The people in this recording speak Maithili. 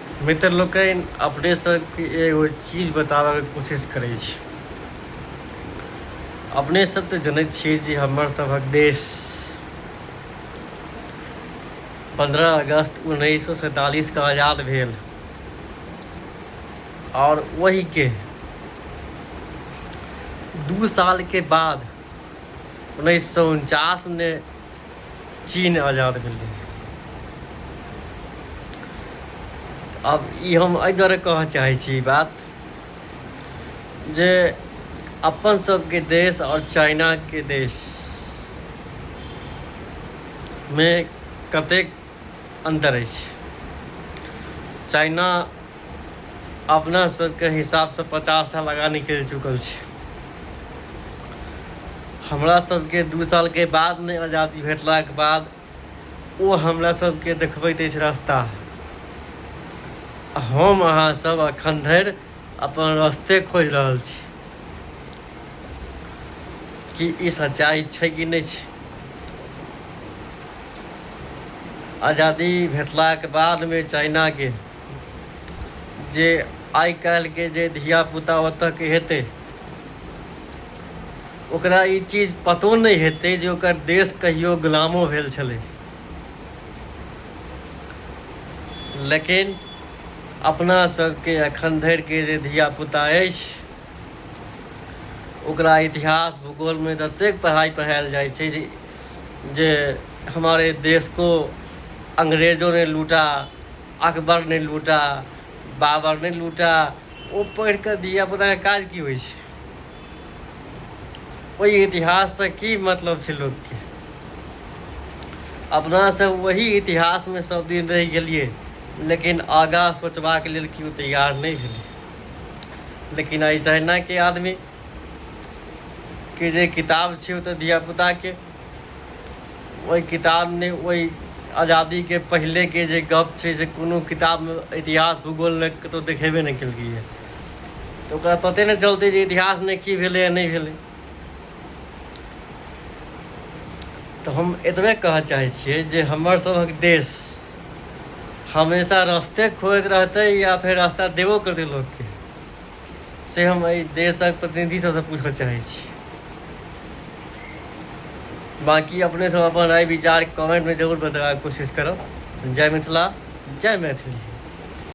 मित्र लोकनि अपने सबके एगो चीज बताबैके कोशिश करै छी अपने सब तऽ जनैत छियै जे हमर सभक देश पन्द्रह अगस्त उन्नैस सए सैंतालिसके आजाद भेल आओर ओहिके दू सालके बाद उन्नैस सए उनचासमे चीन आजाद भेलै आब ई हम एहि दुआरे कहऽ चाहै छी ई बात जे अपन सबके देश आओर चाइनाके देशमे कतेक अन्तर अछि। चाइना अपना सबके हिसाबसँ पचास साल आगाँ निकलि चुकल छै हमरा सबके दू सालके बाद नहि आजादी भेटलाके बाद ओ हमरा सबके देखबैत अछि रास्ता हम अहाँ सब अखन धरि अपन रस्ते खोज रहल छी कि ई सच्चाइ छै कि नहि छै आजादी भेटलाक बादमे चाइनाके जे आइ काल्हिके जे धियापुता ओतऽके हेतै ओकरा ई चीज पतो नहि हेतै जे ओकर देश कहियो गुलामो भेल छलै लेकिन अपना सबके एखन धरिके जे धियापुता अछि ओकरा इतिहास भूगोलमे ततेक पढ़ाइ पढ़ायल जाइ छै जे जे हमारे देश को अंग्रेजों ने लूटा अकबर ने लूटा बाबर ने लूटा ओ पढ़ि कऽ धियापुताके काज की होइ छै ओहि इतिहाससँ की मतलब छै लोकके अपनासँ वही इतिहासमे सब दिन रहि गेलियै लेकिन आगाँ सोचबाक लेल केओ तैयार नहि भेलै लेकिन आइ तहिनाके आदमी के जे किताब छै ओतऽ धियापुताके ओहि किताब नहि ओहि आजादीके पहिलेके जे गप छै से कोनो किताबमे इतिहास भूगोल नहि कतहु देखेबे नहि केलकैए तऽ ओकरा पते नहि चलतै जे इतिहास नहि की भेलै या नहि भेलै तऽ हम एतबे कहऽ चाहै छियै जे हमर सभक देश हमेशा रस्ते खोजैत रहतै या फेर रास्ता देबो करतै लोकके से हम एहि देशक प्रतिनिधि सबसँ पूछऽ चाहै छी बाकी अपने सब अपन राय विचार कमेंटमे जरूर बताबैके कोशिश करब जय मिथिला जय मैथिली